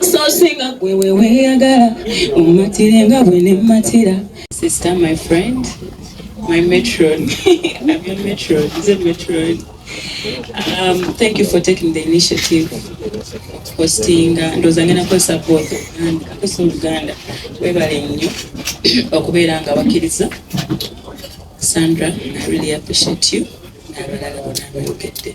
so singa gwe weweyagala omatire nga bwe nemmatira sister my friend my metron my metron nze metron um, thank you for taking the initiative hostinga uh, ndowooza ngenda kukozesa booth uganda akozesa oluganda webale nnyo okubeera nga bakkiriza sandra i really appreciate you n'abalala bona abayogedde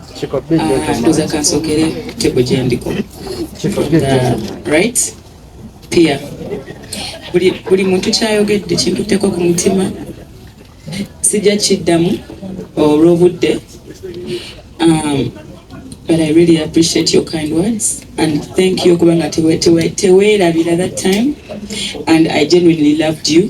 ndoza kansokere tebo gyendiko right pia buli muntu kyayogedde kintutteko ku mutima sijja kiddamu olw'obudde um, but i really appreciate your kind words and thank you kubanga teweerabira that time and i genuinely loved you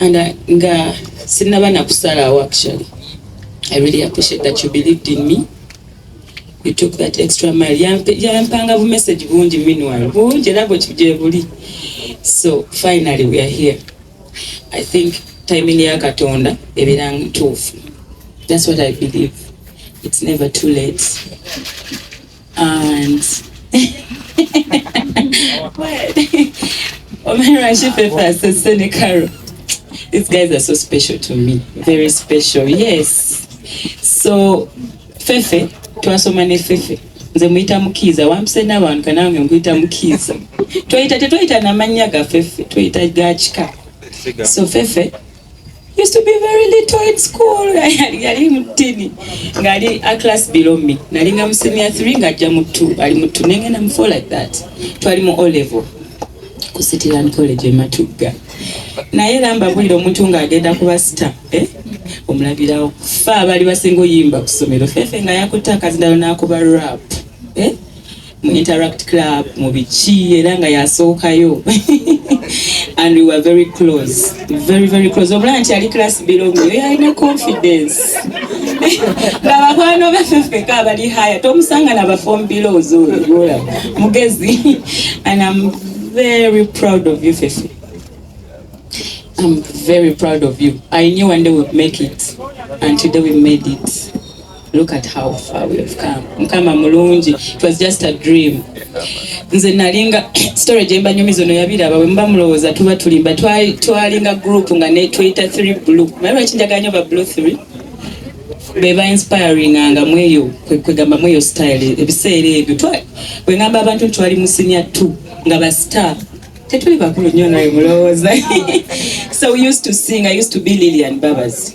And uh, nga sinaba na kusalawo actually I really appreciate that you believed in me you took that extra mile yampanga bu message bungi meanwhile bungi era bwekigye buli so finally we are here I think timing ya katonda ebeera ntuufu that's what I believe it's never too late And These guys are so special to me. Very special. Yes. So Fefe, twasoma ne Fefe. Nze muyita mukiiza wampise n'abantu kanange nkuyita mukiiza. Twayita tetwayita na mannya ga Fefe, twayita ga kika. So Fefe used to be very little in school yali mutini ngali a class below me nalinga mu senior 3 ngajja mu 2 ali mu 2 nengenda mu 4 like that twali mu O level ku City Land College e Matugga naye lamba bulira omuntu ng'agenda kuba sita eh? omulabirawo fa abali basinga oyimba ku ssomero fefe nga yakutte akazindalo n'akuba rap eh? mu Interact Club mu biki era nga yasookayo and we were very close very very close obulaba nti ali class below me oyo alina confidence nga bakwano baffe ffeka abali haya tomusanga na bafom belows oyola mugezi and am very proud of you fefe I'm very proud of you. I knew one day we'd make it, and today we made it. Look at how far we have come. Mukama mulungi. It was just a dream. Nze nalinga story jemba nyumi zono yabira bawe mba mulowoza tuba tulimba twali twalinga group nga ne Twitter 3 blue. Mara chinja ganyo ba blue 3. Beba inspiring anga mweyo kwegamba mweyo style ebiseere ebyo. Twa we ngamba abantu twali musinya 2 nga ba star. Tetuli bakulu nyo nayo mulowoza. so we used to sing. I used to be Lillian Babas.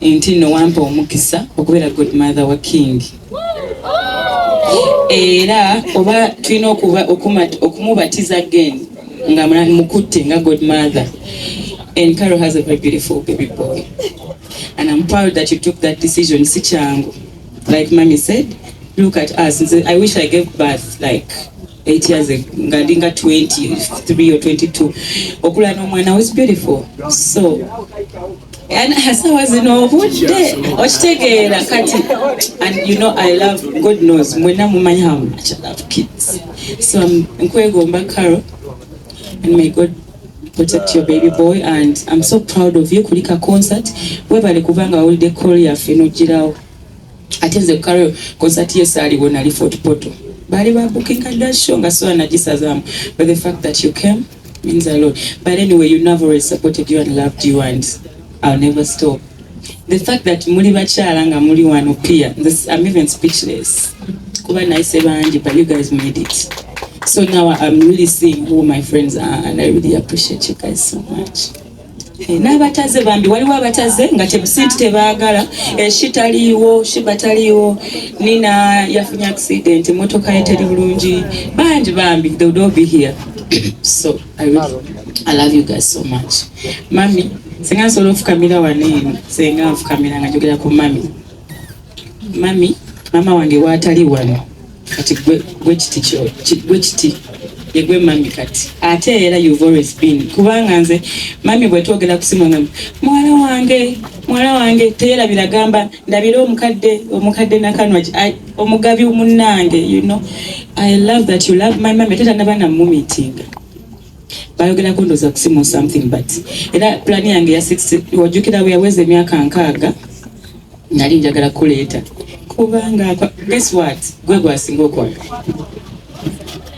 Enti no wampa omukisa okubeera godmother wa King era oba tulina okumubatiza again nga mukutte nga godmother and Carol has a very beautiful baby boy and I'm proud that you took that decision si kyangu like mommy said look at us I wish I gave birth like 8 years nga ndi nga 23 or 22 okula n'omwana was beautiful so hasawa zino obudde okitegeera kati and you know i love god knows mwena mumanyi how much i love kids so nkwegomba carol and may god protect your baby boy and i'm so proud of you kulika concert webale kubanga wawulidde call yaffe nogirawo ate nze kukalo konsati ye saaliwo nali fort poto baali babukinga dda show nga sola nagisazaamu but the fact that you came means a lot but anyway you never always supported you and loved you and i'll never stop the fact that muli bakyala nga muli wano pia i'm even speechless kuba nayise bangi but you guys made it so now i'm really seeing who my friends are and i really appreciate you guys so much Eh, n'abataze bambi waliwo abataze nga tebusinti tebagala eshi eh, taliiwo shiba taliiwo nina yafunye accident motoka ye teri bulungi bangi bambi they would all be here so I, really, I love you guys so much mami senga nsobola ofukamira wano eno senga nfukamira nga njogera ku mami mami mama wange waatali wano kati gwe kiti yegwe mami kati ate era you've always been kubanga nze mami bwetwogera kusimu nga muwala wange muwala wange teyera biragamba ndabira omukadde omukadde nakanwa omugabi munange you know i love that you love my mami teta nabana mumitinga bayogerako ndoza kusimu something but era plan yange ya six wajukira bwe yaweza emyaka nkaaga nali njagala kuleeta kubanga guess what gwe gwasinga okwaga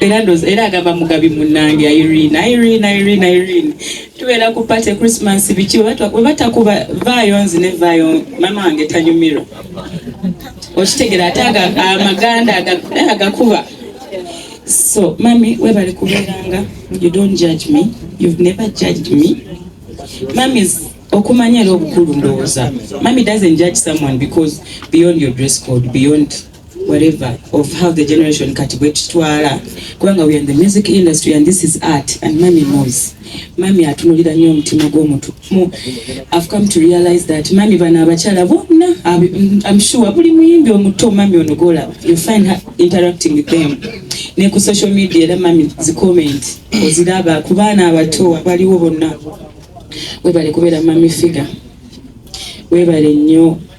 era ndoza era agamba mugabi munange irene irene irene irene tubeera ku party christmas biki webatakuba vaayo nzi ne vaayo mama wange tanyumirwa okitegera ate amaganda eh, agakuba So mami webale kubeeranga you don't judge me you've never judged me mamis okumanya era obukulu ndowooza mami doesn't judge someone because beyond your dress code beyond whatever of how the generation kati bwetutwala kubanga we are in the music industry and this is art and mami knows mami atunulira nnyo omutima gw'omuntu mu I've come to realize that mami bano abakyala bonna I'm sure buli muyimbi omuto mami ono golaba you find her interacting with them ne ku social media era mami zi comment oziraba ku baana abato abaliwo bonna webale kubeera mami figure webale nnyo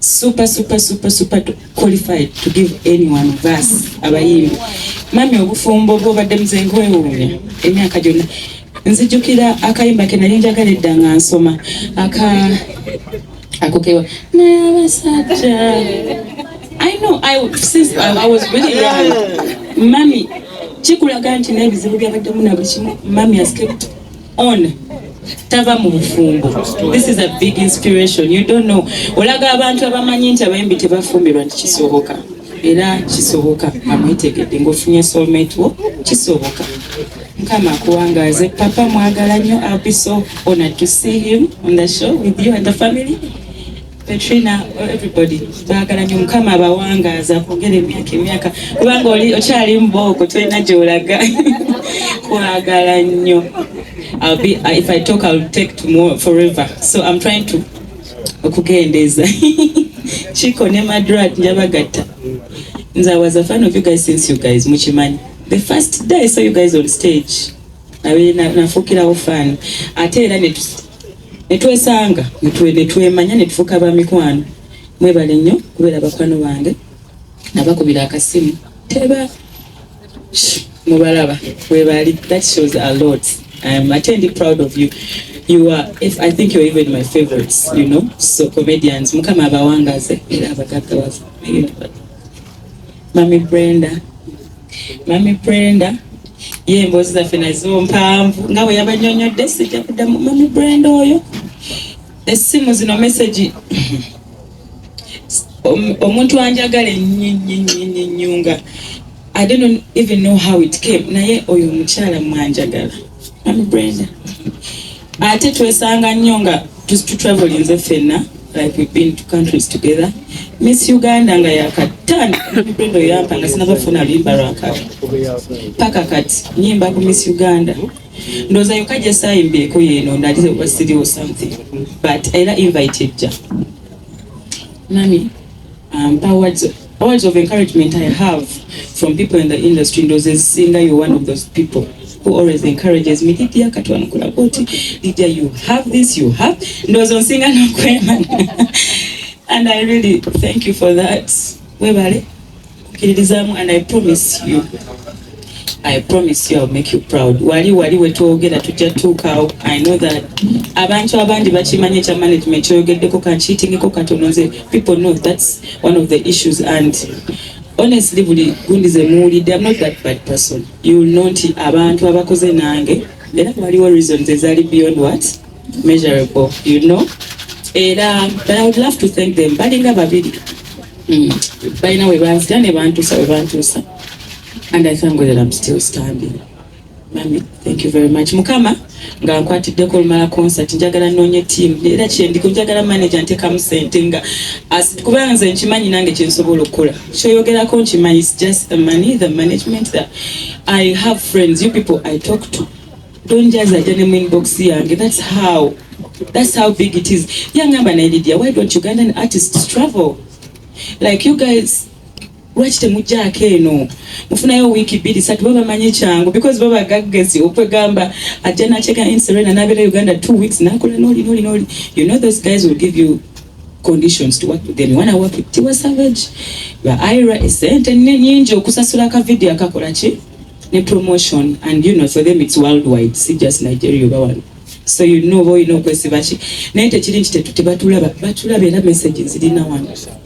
super super super super qualified to give any one of us abayimbi mami obufumbo bwobadde muze nkwewuunya emyaka gyonna nzijukira akayimba ke nali njagala edda nga nsoma aka akokewa naye abasajja i know i since i, I was really young mami kikulaga nti n'ebizibu byabadde muna buli kimu mami has kept on tava mu bufumbo this is a big inspiration you don't know olaga abantu abamanyi nti abayimbi tebafumbirwa nti kisoboka era kisoboka amwetegedde ngaofunye soulmate wo kisoboka mukama akuwangaaze papa mwagala nnyo abiso ona to see him on the show with you and the family Katrina oh, everybody baagala nyo mukama abawangaaza akwongera emyaka emyaka kubanga oli okyali mubooko tolina gyolaga kwagala nnyo be, uh, if I talk I'll take tomorrow forever so I'm trying to okugendeeza kiko ne madrat njabagatta nze I was a fan of you guys since you guys mukimanyi the first day I saw you guys on stage nafuukirawo fan ate era ne twesanga ne twemanya ne tufuuka ba mikwano mwebale nnyo kubeera bakwano bange nabakubira akasimu teba mubalaba webali that shows a lot I am attendi proud of you you are if I think you're even my favorites you know so comedians mukama abawangaze era abagaggawaza mami Brenda mami brenda ye emboozi zaffe nazo mpanvu nga bwe yabanyonyodde sijja kuddamu mami brenda oyo essimu zino mesegi omuntu anjagala ennyinnyinnyinnyinnyunga i don't even know how it came naye oyo omukyala mwanjagala ate twesanga nnyo nga tutravelinze ffenna like we've been to countries together miss uganda nga yakatani brenda oyampa nga sinabafuna luyimba lwakabi paka kati nyimba ku miss uganda ndoza yoka gyesayimbeeko yeno nalize kuba siriwo something but era invite ejja mami ampa um, wadzo Words of encouragement I have from people in the industry ndoze zisinga you one of those people who always encourages me Lydia katwanukula boti Lydia you have this you have ndozo nsinga nokwema and I really thank you for that webale kukiririzaamu and I promise you I promise you I'll make you proud. Wali wali wetwogera tujja tuukaawo. I know that abantu abandi bakimanyi ekya management kyoyogeddeko kankiitingeko katono nze people know that's one of the issues and honestly buli gundi ze muwulidde I'm not that bad person. You will know nti abantu abakoze nange era waliwo reasons ezaali beyond what measurable you know era but I would love to thank them balinga babiri mm. balina we banzita ne bantuusa we bantuusa And I thank God that I'm still standing. Mami, thank you very much. Mukama, nga nkwatiddeko olumala concert, njagala noonye team. Era kyendiko njagala manager ntekamu sente nga as kubanga nze nkimanyi nange kye nsobola okukola. Kyoyogerako nkimanyi is just the money, the management that I have friends, you people I talk to. Don't just a gentleman inbox yange. That's how that's how big it is. Yangamba na Lydia, why don't Ugandan artists travel? Like you guys Lwaki temujjaako eno mufunayo wiiki bbiri satu baba manyi kyangu because baba gaggezi okwegamba ajja nakyeka in serena nabeera uganda two weeks nakola noli noli noli you know those guys will give you conditions to work with them wana work it tiwa savage ba ira esente nyingi okusasula ka video akakola ki ne promotion and you know for them it's worldwide si just nigeria oba wano so you know boyina okwesiba ki naye tekiri nti tetutebatulaba batulaba era message zirina wano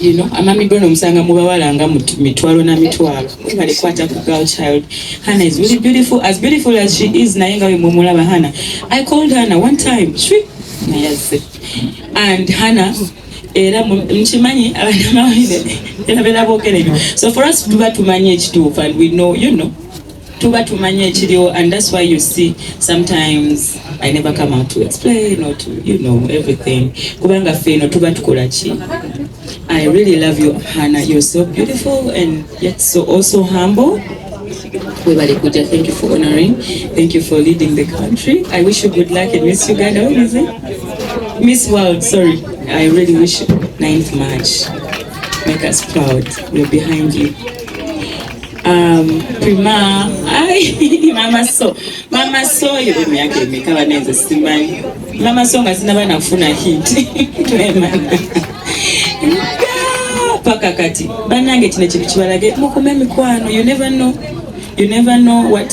you know amamigo no musanga mu bawala nga mitwalo na mitwalo mwebale kwata ku girl child hana is really beautiful as beautiful as she is naye nga wemwemulaba hana i called hana one time shwi nayazze and hana era mukimanyi abanamawulire era bera boogera ebyo so for us tuba tumanyi ekituufu and we know you know tuba tumanyi ekiriwo and that's why you see sometimes i never come out to explain or to you know everything kubanga ffe eno tuba tukola ki i really love you hana you're so beautiful and yet so also humble webale kuja thank you for honoring thank you for leading the country i wish you good luck in miss uganda what is it miss world sorry i really wish 9th march make us proud we're behind you Um, prima ai mama so mama so yo emyaka emeka banenze simanyi mama so nga sinaba nafuna hit paka kati banange kino kintu kibalage mukume emikwano you never know you never know what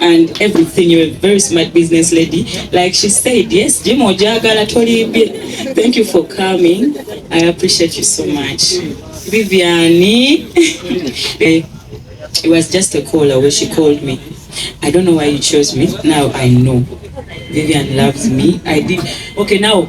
and everything you're a very smart business lady like she said yes jim ojagala tolimbye thank you for coming i appreciate you so much viviani eh, it was just a call away she called me i don't know why you chose me now i know vivian loves me i did okay now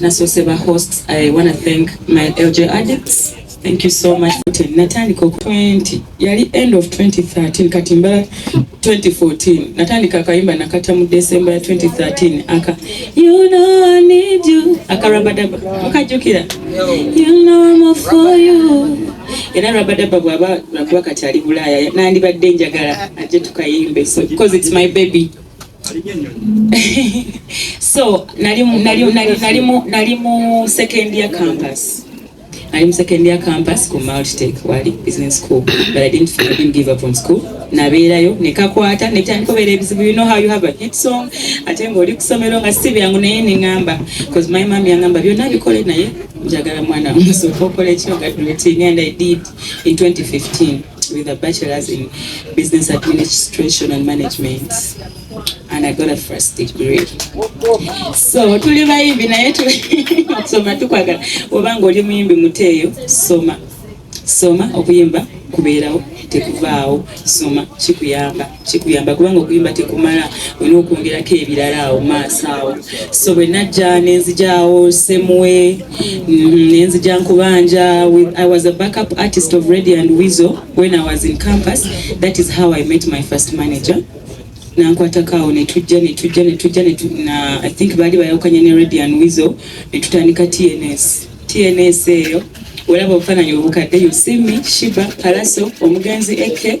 nasoose ba hosts i wanna thank my lj addicts thank you so much natandika oku 20 yali end of 2013 kati mbala 2014 natandika akayimba nakata mu december ya 2013 aka you know i need you aka rabadaba mukajukira you know i'm all for you era rabadaba bwaba lwakuba kati ali bulaaya nandibadde njagala ajje tukayimbe so because it's my baby so nali mu second year campus nali mu second year campus ku multitech wali business school but i didn't, I didn't give up on school nabeerayo nekakwata netandika obeera ebizibu you know how you have a hit song ate nga oli kusomero nga si byangu naye neŋamba bcause my mam yaŋamba byonna bikole naye njagala mwana musoka okola ekyoga duleting and i did in 2015 with a bachelor's in business administration and management and I got a first degree. So tuli bayimbi naye okusoma tukwagala oba ng'oli muyimbi muteeyo soma soma okuyimba kubeerawo tekuvaawo soma kikuyamba kikuyamba kubanga okuyimba tekumala olina okwongerako ebirala awo maaso awo so bwe najja nenzijawo semwe mm-hmm, nenzija nkubanja i was a backup artist of ready and wizo when i was in campus that is how i met my first manager nankwatako awo netujja netujja netujja i think baali bayawukanya ne ready and wizo netutandika tns tns eyo olaba obufaananyi obukadde yosimi shiba palaso omugenzi eke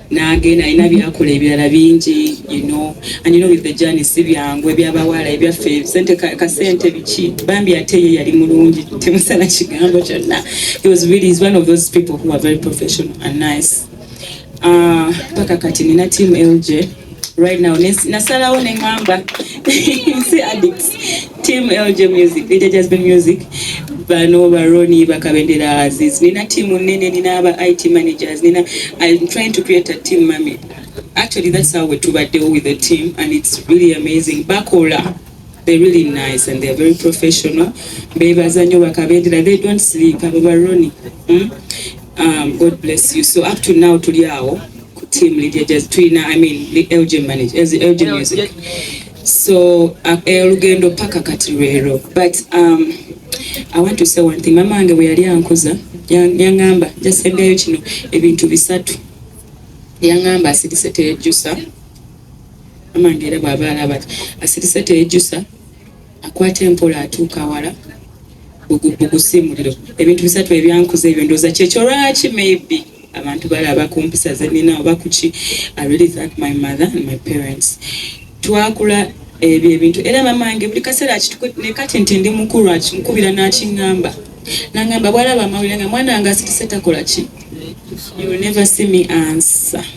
nange nalina byakola ebirala bingi you know and you know with the journey si byangu ebyabawaala ebyaffe sente kasente biki bambi ate ye yali mulungi temusala kigambo kyonna he was really is one of those people who are very professional and nice ah, paka kati nina team lj right now nasalawo ne ngamba si addicts team lg music lija just be music bano baroni bakabendera aziz nina team nene nina aba it managers nina i'm trying to create a team mami actually that's how we tubaddewo with the team and it's really amazing bakola They really nice and they are very professional. Bebaza nyo bakabendera. They don't sleep. Abo baroni. Mm? Um, God bless you. So up to now tuli awo ku team Lydia Jazz Twina, I mean the LJ manager, as the LJ music. So uh, olugendo paka kati rero. But um, I want to say one thing. Mama ange weyali ankuza yangamba jasembyayo kino ebintu bisatu. Yangamba asidise tejusa. amange era bwaba alaba ti asirise teyejusa akwata empola atuuka awala bugusiimuliro ebintu bisatu ebyankuza ebyo ndooza kyekyo lwaki maybe abantu balaba ku mpisa zenina oba kuki i really thank my mother and my parents twakula ebyo ebintu era mamange buli kaseera nekati nti ndi mukulu akinkubira nakiŋamba nangamba bwalaba amawulire nga mwana nga asirise takola ki you will never see me answer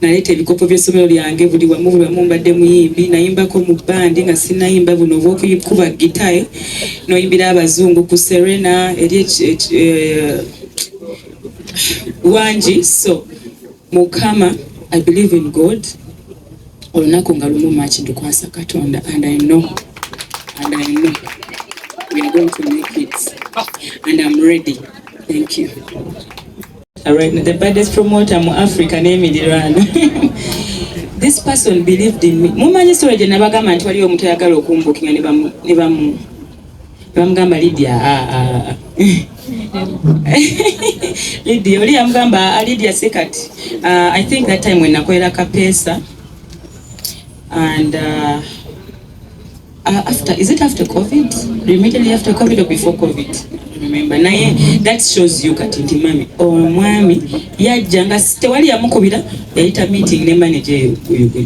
Naleeta ebikopo by'essomero lyange buli wamu buli wamu mbadde muyimbi. Nayimbako mu bbandi nga sinnayimba buno obw'okukuba ggita n'oyimbira Abazungu ku Serena eri eh, wangi so mukama i believe in god olunaku nga lumu maki ndukwasa katonda and i know and i know we are going to make it and i'm ready thank you Right, the baddest promoter mu Africa n'emirirwano this person believed in me mumanyi story gye nabagamba nti waliyo omuntu ayagala okumbukinga ne bamu ne bamu bamugamba Lydia ah, ah. Lydia oli yamugamba ah, Lydia Sekat uh, I think that time when nakolera kapesa and uh, Uh, after is it after covid immediately after covid or before covid remember naye that shows you kati nti mami omwami yajja nga tewali yamukubira yayita meeting ne manager eyo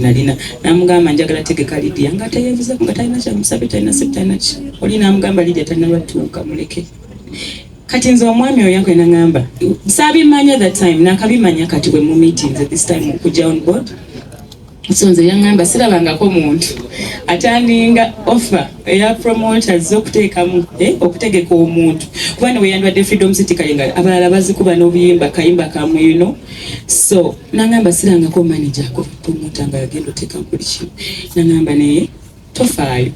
nalina namugamba njagala tegeka lidia nga teyevuza nga talina kyamusabe talina septalina ki oli namugamba lidia talina lwatuuka muleke kati nze omwami oyo yankwena nangamba sabimanya that time nakabimanya kati we mu meetings at this time okujja on board so nze yaŋŋamba sirabangako muntu atandinga offa eya promoters okuteekamu eh, okutegeka omuntu kuba ne weyandwadde freedom city kale nga abalala bazikuba n'obuyimba kayimba kamwino so naŋŋamba sirangako manager ko promota nga yagenda oteekamu buli kimu naŋŋamba naye tofaayo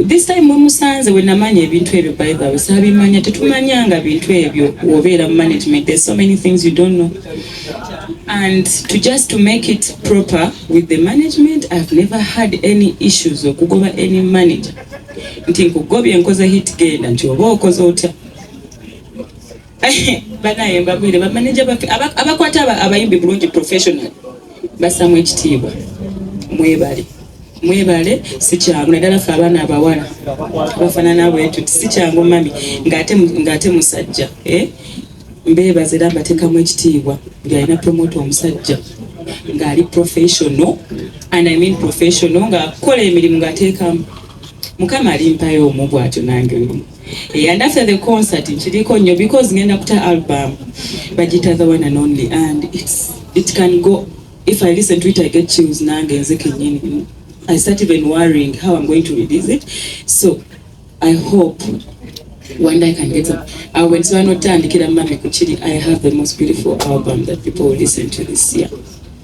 this time mwemusanze wenamanya ebintu ebyo by the way sabimanya tetumanyanga bintu ebyo wobeera mu management there's so many things you don't know and to just to make it proper with the management i've never had any issues okugoba any manager nti nkugobye nkoze hit genda nti oba okoze otya banaye mbabwire bamaneja baffe abakwata abayimbi bulungi professional basamu ekitiibwa mwebale mwebale sikyangu naddala ffe abaana abawala abafanana bwetuti sikyangu mami ngaate musajja eh? mbebaza era mbatekamu ekitiibwa buli alina promota omusajja ngaali professional and i mean professional ngaakola emirimu ngateekamu mukama alimpayo omu bwatyo nange Yeah, and after the concert nkiliko nnyo because ngenda kuta album bagita the one and only and it's, it can go if I listen to it I get chills nange nze kenyini I start even worrying how I'm going to release it so I hope one day I can get up I will so not turn the kid and mommy I have the most beautiful album that people will listen to this year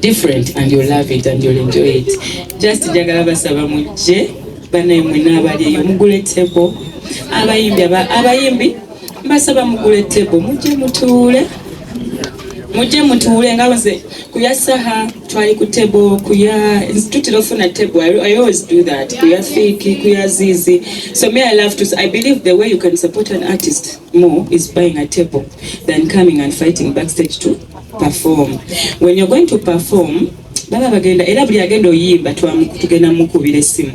different and you love it and you enjoy it just njagala basaba mujje banaye mwena abali eyo mugule table abayimbi abayimbi mbasaba mugule table mujje mutuule mujje mutuule nga nze kuya saha twali ku table kuya tutira ofuna table I, i always do that kuya fiki kuya zizi so me i love to i believe the way you can support an artist more is buying a table than coming and fighting backstage too perform when you're going to perform baba bagenda era buli agenda oyimba tugenda mukubira esimu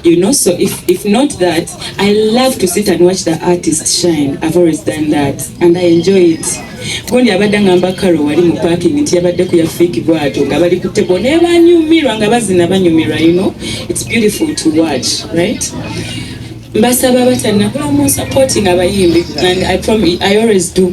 you know so if, if not that i love to sit and watch the artist shine i've always done that and i enjoy it gundi abadde ngamba karo wali mu parking nti yabadde ku yafiki bwato nga bali ku tebo naye banyumirwa nga bazina banyumirwa you know it's beautiful to watch right mbasaba batanakula mu supporting abayimbi and i promise i always do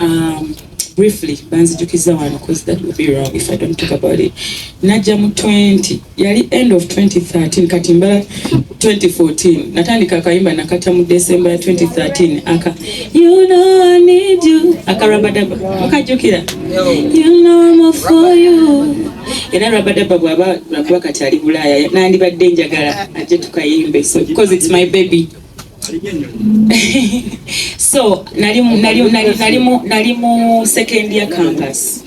Um, briefly banzijukiza wano cause that will be wrong if i don't talk about it najja mu 20 yali end of 2013 kati mbala 2014 natandika akayimba nakata mu december ya 2013 aka you know i need you aka rabadaba mukajukira you know i'm all for you era rabadaba bwaba nakuba kati ali bulaya nandibadde njagala ajje tukayimbe so because it's my baby so nali nali nali nali mu nali mu second year campus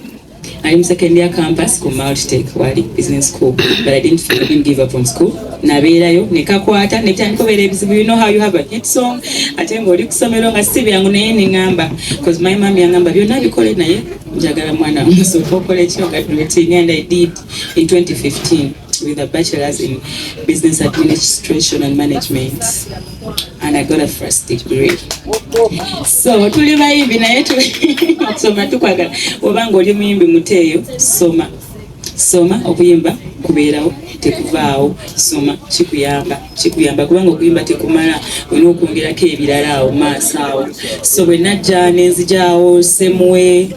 nali mu second year campus ku multi tech wali business school but i didn't I didn't give up on school nabeerayo nekakwata netandika obeera ebizibu you know how you have a hit song ate ng'oli ku somero nga si byangu naye neŋamba bcause my mam yangamba byonna bikole naye njagala mwana musoka okola ekyo nga and i did in 2015 with a bachelor's in business administration and management and I got a first degree so tuli bayimbi naye okusoma tukwagala oba nga oli muyimbi muteeyo soma soma okuyimba kubeerawo tekuvaawo soma kikuyamba kikuyamba kubanga okuyimba tekumala olina okwongerako ebirala awo maaso awo so bwe najja nenzijawo semwe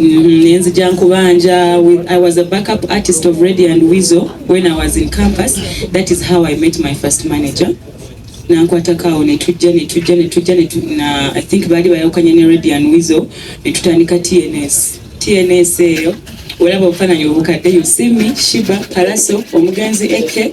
mm-hmm, nenzija nkubanja i was a backup artist of ready and wizo when i was in campus that is how i met my first manager nankwatako awo netujja netujja netujja na i think baali bayawukanya ne ready and wizo netutandika tns tns eyo olaba obufananyi obukadde yusimi shiba palaso omugenzi eke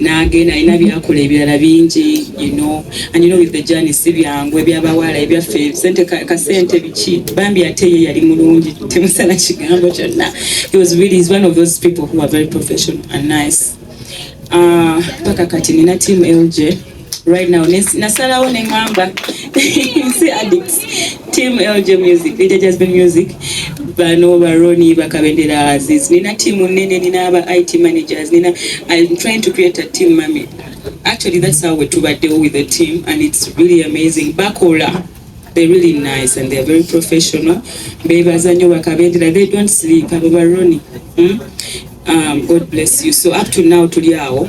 nange nalina byakola ebirala bingi you know and you know with the journey si byangu ebyabawala ebyaffe sente kasente biki bambi ate ye yali mulungi temusala kigambo kyonna he was really is one of those people who are very professional and nice ah, paka uh, kati nina team lj right now nasalawo ne ngamba si addicts team lg music ija just be music bano baroni bakabendera aziz nina team nene nina aba it managers nina i'm trying to create a team mami actually that's how we tubaddewo with the team and it's really amazing bakola they're really nice and they're very professional bebaza nyo bakabendera they don't sleep abo baroni hmm? um, god bless you so up to now tuli awo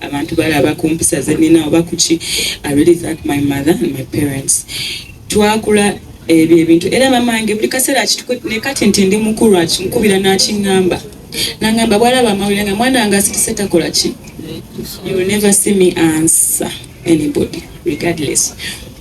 abantu balaba ku mpisa ze nnina oba kuki i really thank my mother and my parents twakula ebyo ebintu era mamange buli kaseera ne kati nti ndi mukulu akinkubira n'akiŋŋamba nangamba bwalaba amawulire nga mwana wange asituse takola ki you will never see me answer anybody regardless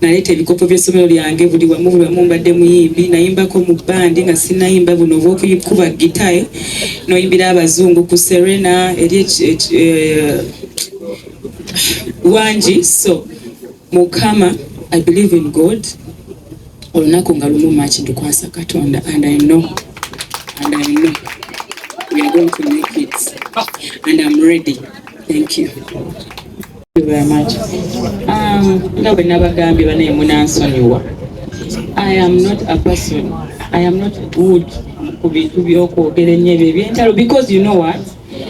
Naleeta ebikopo by'essomero lyange buli wamu buli wamu mbadde muyimbi. Nayimbako mu bbandi nga sinnayimba buno obw'okukuba ggita n'oyimbira Abazungu ku Serena eri wangi so mukama i believe in god olunaku nga lumu maki ndukwasa katonda and i know and i know we are going to make it and i'm ready thank you Um, nga bwe nabagambye banaye munansonyiwa i am not a person i am not good ku bintu byokwogera ennyo ebyo ebyentalo because you know what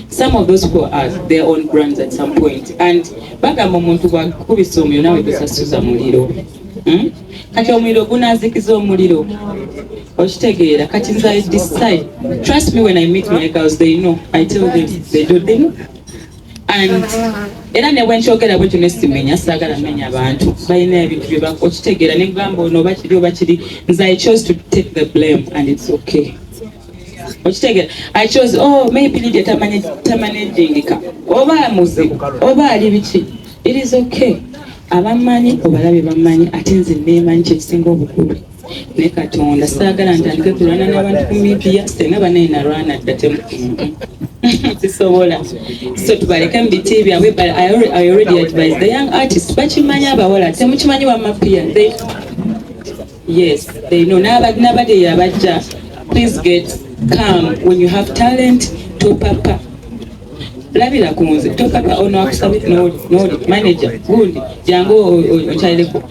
some of those who are their own brands at some point and bagamba omuntu bwakubisa omuliro nawe gusasuza muliro hmm? kati omuliro gunazikiza omuliro okitegeera kati nze i decide trust me when i meet my girls they know i tell them they do them and era ne bwenkyogera bwekyo nesimenya sagala menya abantu balina ebintu byebakitegeera nekugamba ono bakiri obakiri nze i chose to take the blame and it's okay okitegera i chose oh maybe lidia tamanejingika oba muzibu oba ali biki it is okay abamanyi obalabye bamanyi ate nze nemanyi kyekisinga obukulu ne katonda saagala ntandike kulwana n'abantu ku midiya senga banaye nalwana dda temu sisobola so tubaleke mu biti byabwe but I already, I already advise the young artist bakimanyi abawala temukimanyi wamapia they yes they know nabade yabajja please get calm when you have talent topapa labira ku nze topapa ono akusabye noli manager gundi jangu okyalireko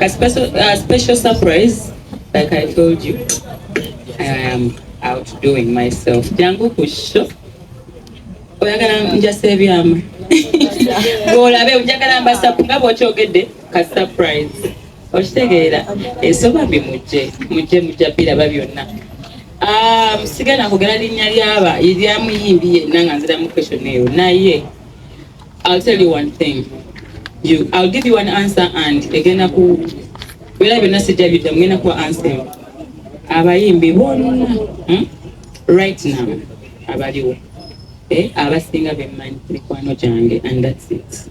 A special, a special surprise, like I told you, I am outdoing myself. Jangu kusho. Oyagala njasa ebyama. Golabe, njagala mbasa nga bwokyogedde ka surprise. okitegeera ensonga mbi mujje mujje mujja biraba byonna ah, musiga nakugera linnya lyaba lyamuyimbi yenna nga nziramu question eyo naye i'll tell you one thing you, i'll give you one answer and egenda ku bera byonna sijja bidda mugenda kuwa answer abayimbi bonna hmm? right now abaliwo eh, abasinga bemmanyi mikwano gyange and that's it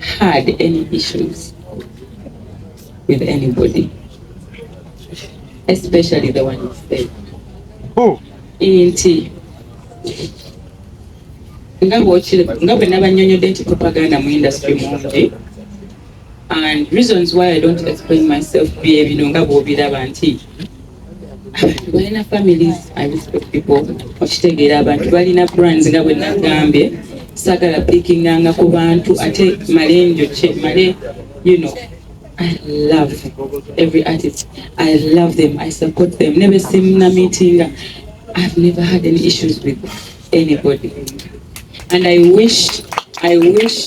had any issues with anybody, especially the one who said. Oh. Inti. nga bwe nabanyonyodde nti propaganda mu industry mungi and reasons why I don't explain myself bye bino nga bwobiraba nti abantu balina families I respect people okitegeera abantu balina brands nga bwe nagambye sagala pikinganga ku bantu ate male njokye male you know I love every artist I love them I support them nebe simna meetinga I've never had any issues with anybody and I wish I wish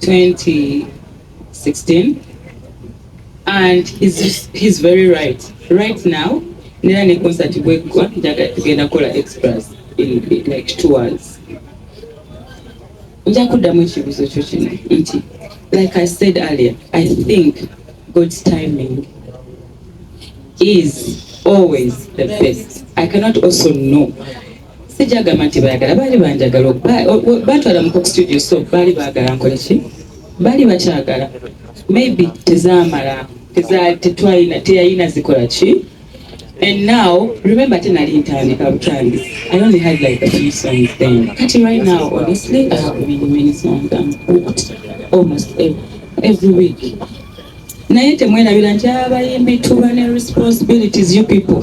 2016 and he's, he's very right right now nera ne concert bweggwa njaga tugenda kukola express in, in like two hours nja kuddamu ekibuuzo kyo kino nti like i said earlier i think god's timing is always the best i cannot also know sijagamba nti bayagala baali banjagala batwala mu cook studio so baali baagala nkole ki baali bakyagala maybe tezamala tetwalina teyalina zikola ki and now remember ate nali ntandika butandi i only had like a few songs then kati right now honestly i have many many songs i'm booked almost every, every week naye temwerabira nti abayimbi tuba ne responsibilities you people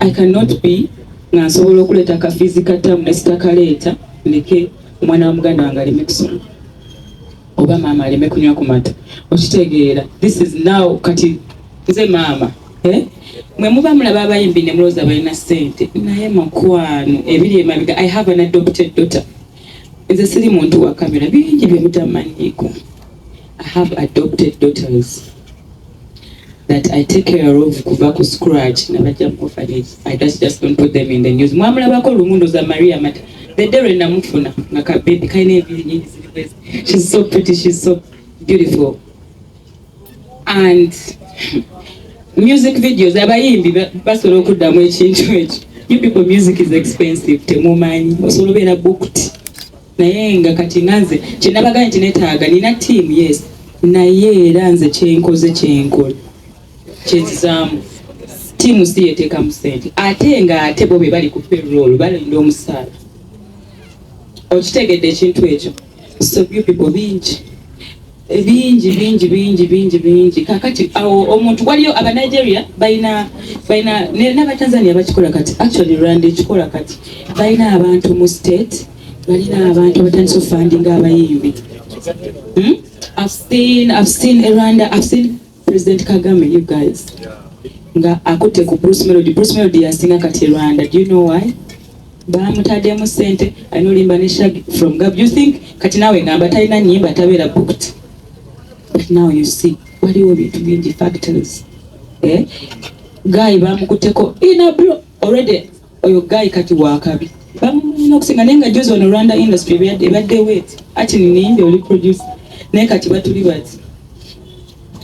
I cannot be nga nsobola okuleeta akafiizi ka ttaamu ne sitakaleeta ndeke omwana wa muganda wange aleme kusoma oba maama aleme kunywa ku mata okitegeera this is now kati nze maama eh? mwe muba mulaba abayimbi ne mulooza balina ssente naye mukwano ebiri emabega i have an adopted daughter nze siri muntu wa kamera bingi bye mutamanyiiko i have adopted daughters that I take care of kuva ku scratch na bajja mu orphanage I just just don't put them in the news mwamulabako lumundo za Maria Mata the day when namufuna nga ka baby kaina ebiri nyingi ziri kwezi she's so pretty she's so beautiful and music videos abayimbi basobola okuddamu ekintu ekyo you people music is expensive temumanyi osobola obeera booked naye nga kati nanze kyenabaga nti netaaga nina team yes naye era nze kyenkoze kyenkola kyezizaamu tiimu si yeteekamu sente ate nga ate bo be bali ku payroll balinda omusaala okitegedde ekintu ekyo so few people bingi bingi bingi bingi bingi bingi kakati awo omuntu waliyo aba Nigeria balina balina n'aba Tanzania bakikola kati actually Rwanda ekikola kati balina abantu mu state balina abantu abatandise ofandinga abayimbi hmm? I've seen, I've seen Rwanda, I've seen President Kagame, you guys. Nga akute ku Bruce Melody. Bruce Melody yasinga kati Rwanda. Do you know why? Bamutademu sente. I know limba ne shag from Gab. You think kati nawe ngamba talina nyimba tabera booked. But now you see. Wali wo bintu bingi factors. Eh? Guy bamukuteko in a bro already Oyo guy kati wakabi. Bamunyina okusinga naye nga juzi ono Rwanda industry ebadde wet ati nininde oli producer naye kati batuli bati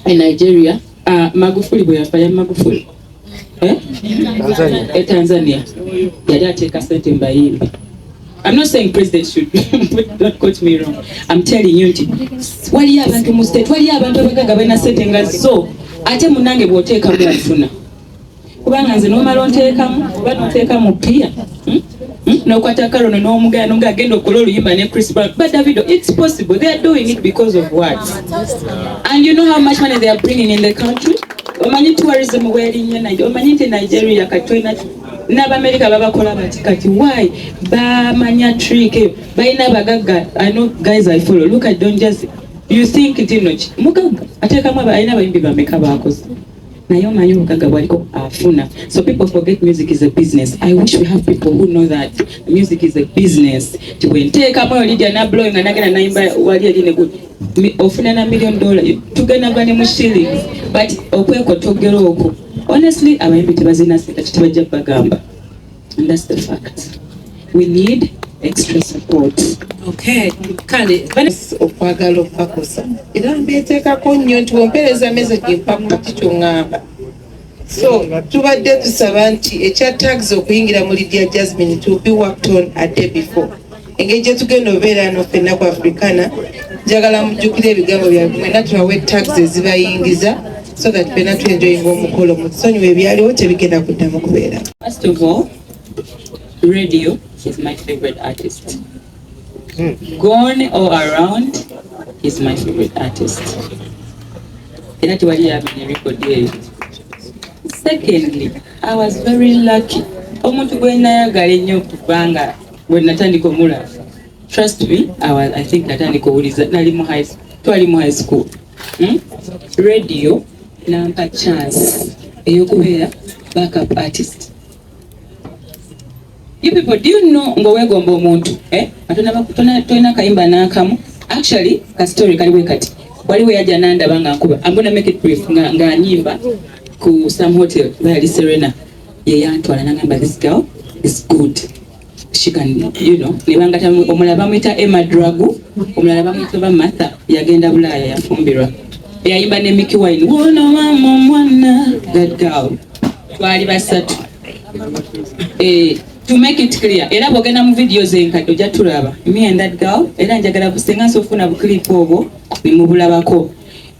e Nigeria uh, Magufuli bwe yafa ya Magufuli eh? Tanzania. E Tanzania yali ateeka sente mbayimbi I'm not saying president should don't quote me wrong I'm telling you nti waliyo abantu mu state waliyo abantu abagaga balina sente nga zo ate munange bw'oteekamu ofuna kubanga nze nomala onteekamu oba noteeka mu pia hmm? hmm? nokwata karono nomugaya nonga agenda okukola oluyimba ne chris brown but davido it's possible they are doing it because of what and you know how much money they are bringing in the country omanyi tourism werinnye naye omanyi nti nigeria katulina n'abamerika babakola bati kati why bamanya trick eyo balina abagagga i know guys i follow look at don just you think nti noki mugagga ateekamu alina abayimbi bameka baakoze naye omanyi obugaga bwaliko afuna so people forget music is a business i wish we have people who know that music is a business ti bwenteekamu eyo lidia nablow nga nagenda nayimba wali eri ne ofuna na million dollar tugenda gwa ne mu shillings but okwekotogera okwo honestly abayimbi tebazina sente kitibajja bagamba And that's the fact. We need extra support. Okay. Kale. Okwagala okubakosa. Era mbeeteekako nnyo nti wempeereza meze gimpa ku kati kyongamba. So tubadde tusaba nti ekya tags okuyingira mu Lydia Jasmine to be worked on a day before. engeri gye tugenda obeera ano fenna ku afrikana njagala mujjukire ebigambo byange mwena tubawe tax ezibayingiza so that fenna tuenjoyinga omukolo mutusonyiwa ebyaliwo tebigenda kuddamu kubeera first of all radio is my favorite artist hmm. gone all around is my favorite artist era tewali yamenya record eyo secondly i was very lucky omuntu gwenayagala ennyo okubanga When natandika omulaba trust me our, I think natandika owuliza nali mu high twali mu high school hmm? radio nampa chance eyokubeera backup artist you people do you know ngowegomba omuntu eh? tolina kayimba nakamu actually ka story kali bwe kati waliwo yajja nandaba nga nkuba I'm gonna make it brief nga, nga nyimba ku some hotel bali serena yeyantwala nangamba this girl is good she can you know nebangata omulala bamuyita Emma Dragu omulala bamuyita ba Martha yagenda Bulaaya yafumbirwa eyayimba ne Mickey Wine wono mama omwana that girl twali basatu eh to make it clear era bwogenda mu video zenkadde ojja tulaba me and that girl era njagala busenga nsi ofuna buklipu obwo nemubulabako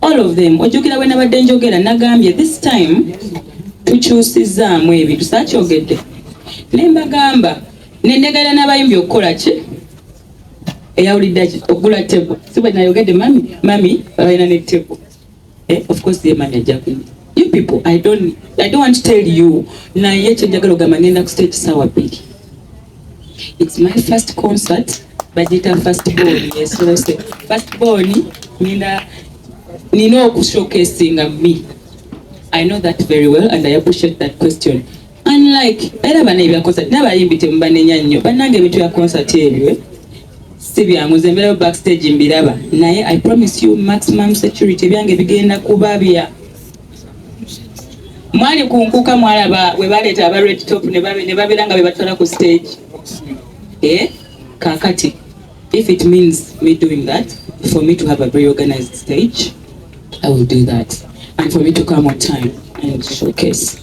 all of them ojjukira bwe nabadde njogera nagambye this time tukyusizaamu ebintu sakyogedde ne mbagamba nendegera n'abayimbi okukola ki eyawulidde ki okugula tebo si bwe nayogedde mami mami balina ne tebo eh, of course ye mami ajja kunywa you people i don't, I don't want to tell you naye kyenjagala ogamba ngenda ku stage sawa bbiri It's my first concert bajita first born yes no say first born nina nina oku showcasing me I know that very well and I appreciate that question unlike era bana ebya concert naba yimbi temubanenya nnyo banange ebintu ya concert ebyo eh? si byangu nze mbeerayo backstage mbiraba naye I promise you maximum security byange bigenda kuba bya mwali kunkuka mwalaba we baleeta aba red top ne babeera nga bebatwala ku stage eh? kakati if it means me doing that for me to have a very organized stage i will do that and for me to come on time and showcase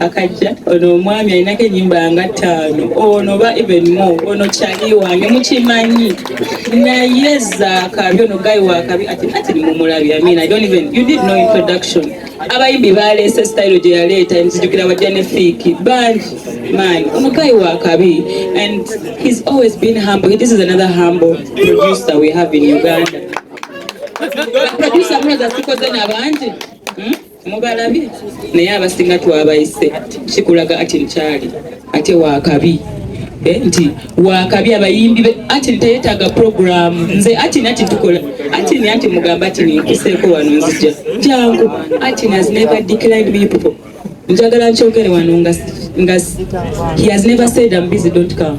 akajja ono omwami alinako enyimba nga ttaano ono oba even more ono kyali wange mukimanyi naye zaakabi ono gayi wakabi ati ati nimumulabi amina i don't even you did no introduction abayimbi baleese style gye yaleeta nzijukira bajja ne fiiki bangi man ono gayi wakabi and he's always been humble this is another humble producer we have in uganda producer mulaza sikoze nabangi hmm? Mubalabi naye abasinga twabayise kikulaga ati nkyali ate wakabi eh, nti wakabi abayimbi be ati teyetaaga programu nze ati nati tukola ati ni ati mugamba ati ninkuseeko wano nzija jangu ati has never declined me people njagala nkyogere wano nga he has never said I'm busy don't come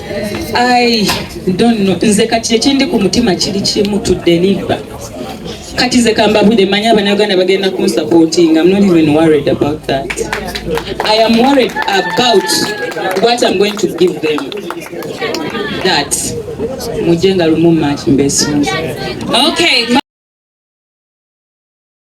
I don't know. Nze kati ekindi ku mutima kiri kimu to deliver. Kati nze kambabude manyi abanauganda bagenda kunsupporting. I'm not even worried about that. I am worried about what I'm going to give them. That. Mujenga lumu machi mbesunza. Okay.